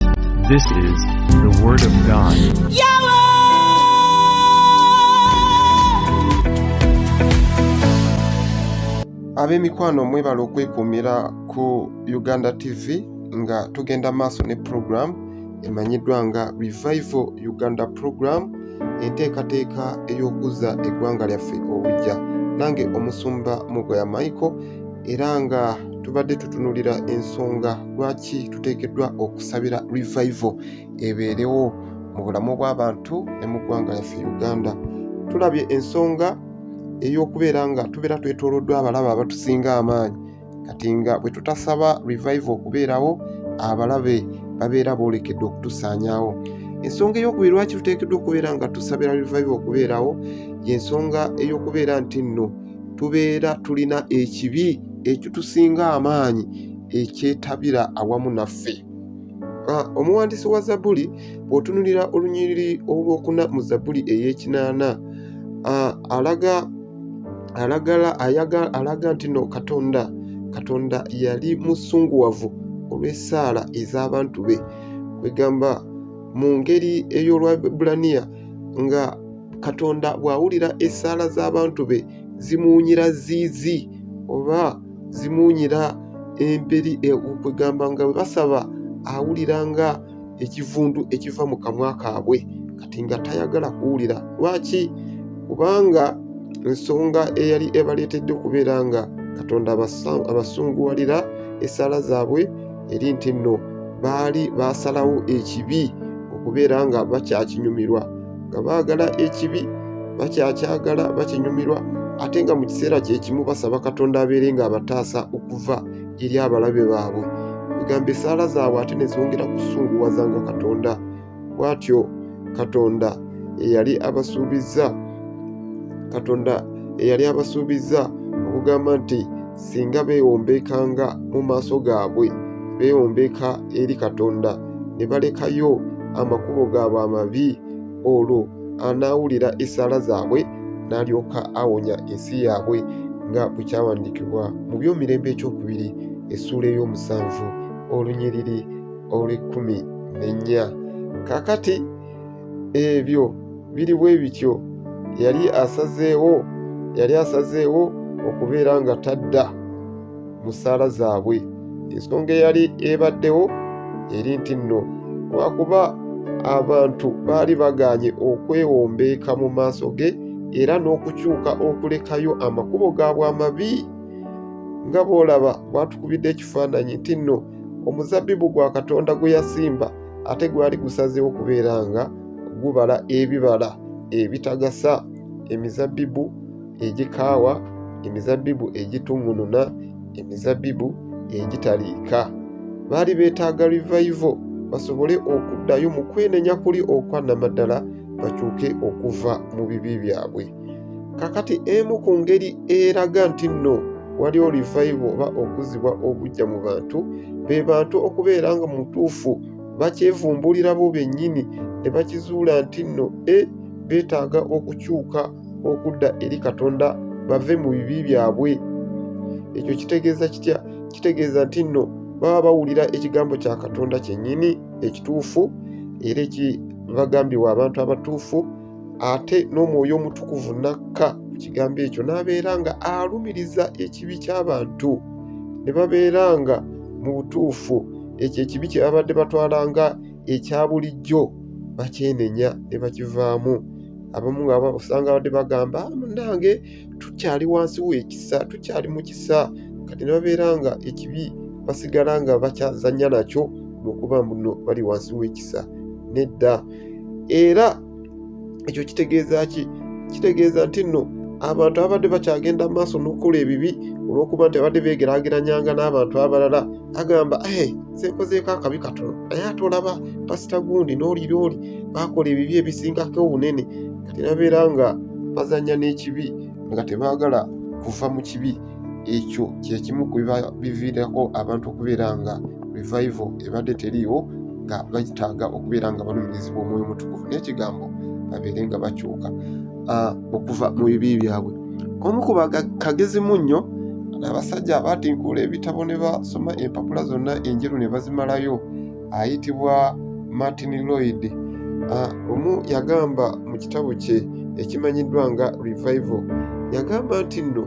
This is the Word of God. ab'emikwano mwebala okwekuumira ku uganda tv nga tugenda maaso ne program emanyiddwa nga revival uganda program enteekateeka ey'okuzza eggwanga lyaffe obujja nange omusumba mugoya michael era nga tubadde tutunulira ensonga lwaki tuteekeddwa okusabira revival ebeerewo mu bulamu bw'abantu ne mu ggwanga lyaffe uganda tulabye ensonga ey'okubeera nga tubeera twetoloddwa abalaba abatusinga amaanyi kati nga bwe tutasaba revival okubeerawo abalabe babeera boolekedde okutusaanyaawo ensonga ey'okubiri lwaki tuteekeddwa okubeera nga tusabira revival okubeerawo y'ensonga ey'okubeera nti nno tubeera tulina ekibi ekitusinga amaanyi ekyetabira awamu naffe ah, omuwandiisi wa zabuli bw'otunulira olunyiriri olwokuna mu zabuli ey'ekinaana ah, alaga alagala ayaga alaga nti no katonda katonda yali musunguwavu olw'essaala ez'abantu be kwegamba mu ngeri ey'olwabulaniya nga katonda bw'awulira essaala z'abantu be zimuwunyira ziizi oba zimuwunyira emperi e, kwegamba nga bwe basaba awulira nga ekivundu ekiva mu kamwa kaabwe kati nga tayagala kuwulira lwaki kubanga nsonga eyali ebaleetedde okubeera nga katonda abasunguwalira essaala zaabwe eri nti nno baali baasalawo ekibi okubeera nga bakyakinyumirwa nga baagala ekibi bakyakyagala bakinyumirwa ate nga mu kiseera kyekimu basaba katonda abeere nga abataasa okuva eri abalabe baabwe egamba esaala zaabwe ate nezongera kusunguwaza nga katonda bwatyo katonda eyali abasuubizza katonda eyali abasuubizza okugamba nti singa beewombekanga mu maaso gaabwe beewombeka eri katonda ne balekayo amakubo gaabwe amabi olwo anaawulira essaala zaabwe n'alyoka awonya ensi yaabwe nga bwe kyawandiikibwa mu byomirembe ekyokubiri essuula ey'omusanvu olunyiriri olw'ekkumi n'ennya kaakati ebyo biri bwe bityo yali asazeewo yali asazeewo okubeera nga tadda mu ssaala zaabwe ensonga eyali ebaddewo eri nti nno lwakuba abantu baali bagaanye okwewombeeka mu maaso ge era n'okukyuka okulekayo amakubo gaabwe amabi nga bw'olaba bwatukubidde ekifaananyi nti nno omuzabbibu gwa katonda gwe yasimba ate gwali gusazeewo kubeera nga gubala ebibala ebitagasa emizabbibu egikaawa emizabbibu egituŋununa emizabbibu egitaliika baali beetaaga revival basobole okuddayo mu kwenenya kuli okwannamaddala bakyuke okuva mu bibi byabwe kakati emu ku ngeri eraga nti nno waliwo livayibu oba okuzibwa obujja mu bantu be bantu okubeera nga mutuufu bakyevumbulira bo bennyini ne bakizuula nti nno e beetaaga okukyuka okudda eri katonda bave mu bibi byabwe ekyo kitegeeza kitya kitegeeza nti nno baba bawulira ekigambo kya katonda kyennyini ekituufu era ekibagambibwa abantu abatuufu ate n'omwoyo omutukuvu n'akka ku kigambo ekyo n'abeera nga alumiriza ekibi ky'abantu ne babeera nga mu butuufu ekyo ekibi kye babadde batwala nga ekya bulijjo bakyenenya ne bakivaamu abamu nga osanga abadde bagamba ah, munange tukyali wansi w'ekisa tukyali mu kisa kati ne babeera nga ekibi basigala nga bakyazanya nakyo lwokuba muno bali wansi w'ekisa nedda era ekyo kitegeeza ki kitegeeza nti nno abantu ababadde bakyagenda mu maaso n'okukola ebibi olw'okuba nti abadde beegeraageranyanga n'abantu abalala agamba eh, nseekozeeko akabi katono naye ate olaba pasita gundi n'oliri oli baakola ebibi ebisingako obunene terabeera nga bazanya n'ekibi nga tebaagala kuva mu kibi ekyo kyekimu ku biviirako abantu okubeera nga revival ebadde teriiwo nga bagitaaga okubeera nga balumirizibwa omwoyo mutukuvu n'ekigambo babeere nga bakyuka ah, okuva mu bibi byabwe omu ku bakagezi mu nnyo abasajja abaatinkuula ebitabo ne basoma empapula zonna enjeru ne bazimalayo ayitibwa Martin Lloyd omu yagamba mu kitabo kye ekimanyiddwa nga Revival yagamba nti nno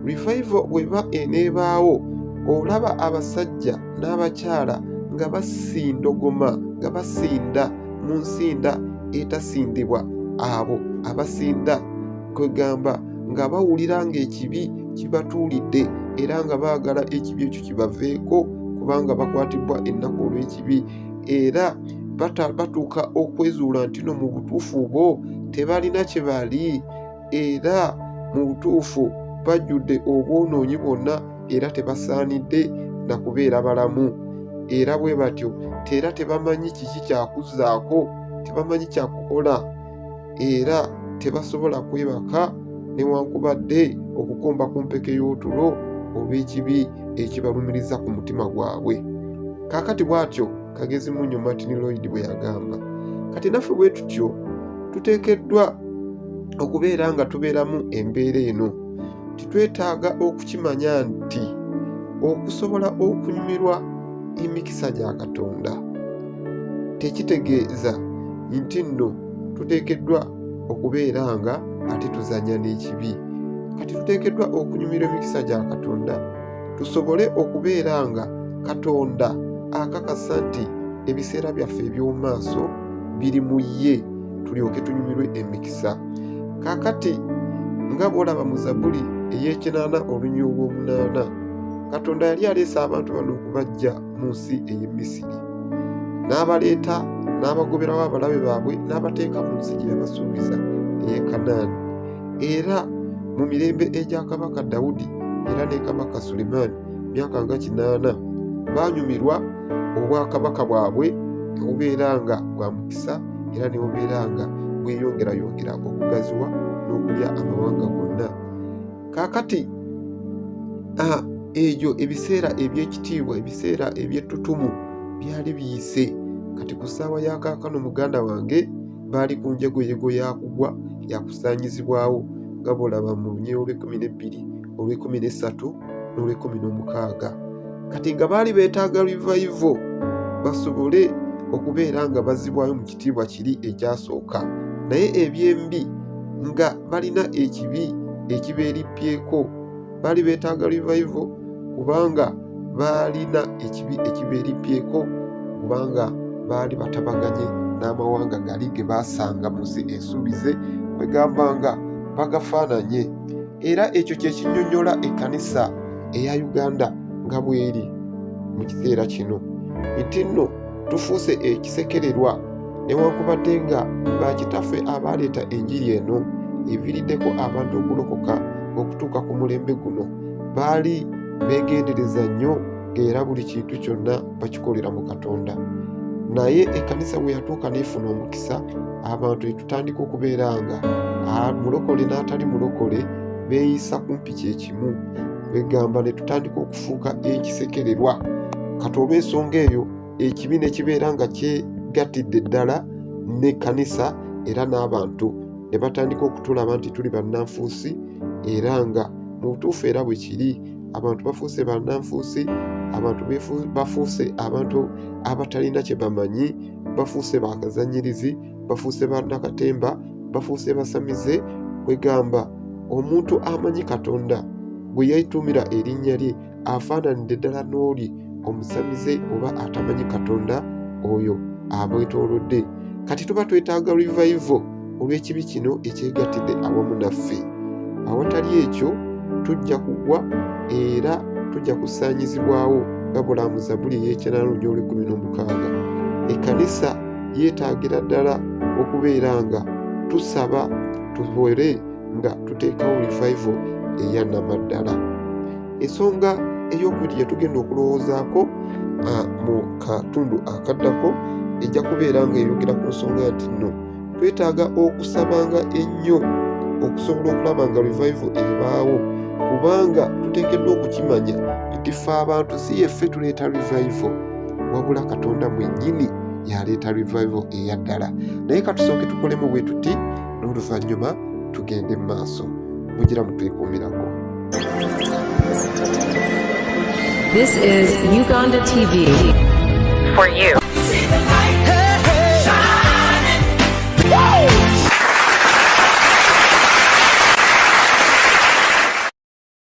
Revival bweba eneebaawo olaba abasajja n'abakyala nga basindogoma nga basinda mu nsinda etasindibwa abo abasinda kwegamba nga bawulira ng'ekibi kibatuulidde era nga baagala ekibi ekyo kibaveeko kubanga bakwatibbwa ennaku olw'ekibi era batuuka okwezuula nti no mu butuufu bo tebalina kye bali era mu butuufu bajjudde obwonoonyi bwonna era tebasaanidde na kubeera balamu era bwe batyo teera tebamanyi kiki kyakuzzaako tebamanyi kyakukola era tebasobola kwebaka newankubadde okukomba ku mpeke y'otulo olw'ekibi ekibalumiriza ku mutima gwabwe kaakati bw'atyo kagezi munyo martin lloyd bwe yagamba kati naffe bwe tutyo tuteekeddwa okubeera nga tubeeramu embeera eno titwetaaga okukimanya nti okusobola okunyumirwa emikisa gya katonda tekitegeeza nti nno tuteekeddwa okubeera nga ate tuzanya n'ekibi kati tuteekeddwa okunyumirwa emikisa gya katonda tusobole okubeera nga katonda akakasa nti ebiseera byaffe eby'omu maaso biri mu ye tulyoke tunyumirwe emikisa kakati nga bwolaba mu zabuli ey'ekinaana olunyuwa olw'omunaana katonda yali aleese abantu bano okubajja mu nsi ey'e Misiri, n'abaleeta n'abagoberawo abalabe baabwe n'abateeka mu nsi gye yabasuubiza ey'e Kanaani. Era mu mirembe egya kabaka Dawudi era ne kabaka Sulemaani myaka nga kinaana, baanyumirwa obwakabaka bwabwe ne bubeera nga bwa mukisa era ne bubeera nga bweyongerayongera okugaziwa n'okulya amawanga gonna. kaakati egyo ebiseera eby'ekitiibwa ebiseera eby'ettutumu byali biyise kati ku ssaawa ya kaakano muganda wange baali ku njegoyego yakugwa yakusaanyizibwawo nga bwolaba mu lunyee olw'ekumi n'ebbiri olw'ekumi n'essatu n'olw'ekumi n'omukaaga kati nga baali beetaaga rivayivo basobole okubeera nga bazibwayo mu kitiibwa kiri ekyasooka naye ebyembi nga balina ekibi ekibeerippyeko baali beetaaga rivayivo kubanga baalina ekibi ekibeerippyeko kubanga baali batabaganye n'amawanga gali ge baasanga mu nsi ensuubize kwegamba nga bagafaananye era ekyo kye kinyonyola ekkanisa eya uganda nga bweri mu kiseera kino nti nno tufuuse ekisekererwa newankubadde nga bakitaffe abaaleeta enjiri eno eviiriddeko abantu okulokoka okutuuka ku mulembe guno baali beegendereza nnyo era buli kintu kyonna bakikolera mu katonda naye ekkanisa bwe yatuuka neefuna omukisa abantu etutandika okubeera nga mulokole n'atali mulokole beeyisa kumpi kye kimu egamba ne tutandika okufuuka ekisekererwa kati olw'ensonga eyo ekibi ne kibeera nga kyegattidde ddala n'ekkanisa era n'abantu ne batandika okutulaba nti tuli bannanfuusi era nga mu butuufu era bwe kiri abantu bafuuse bannanfuusi abantu bafuuse abantu abatalina kye bamanyi bafuuse bakazanyirizi bafuuse ba nakatemba bafuuse basamize kwegamba omuntu amanyi katonda gwe yaituumira erinnya lye afaananidde ddala n'oli omusamize oba atamanyi katonda oyo abwetolodde kati tuba twetaaga revival olw'ekibi kino ekyegattidde awamu naffe awatali ekyo tujja kugwa era tujja kusaanyizibwawo nga bulamu zabuli ey'ekyanano gy'olwekumi n'omukaaga ekkanisa yeetaagira ddala okubeera nga tusaba tubere nga tuteekawo revival eya namaddala ensonga ey'okubiri gyetugenda okulowoozaako mu katundu akaddako ejja kubeera nga eyogera ku nsonga nti nno twetaaga okusabanga ennyo okusobola okulaba nga revival ebaawo kubanga tuteekeddwa okukimanya nti fe abantu si yeffe tuleeta revival wabula katonda mwenyini yaleeta revival eya ddala naye katusooke tukolemu bwe tuti n'oluvannyuma tugende mu maaso mugira mutwekuumirako This is Uganda TV for you.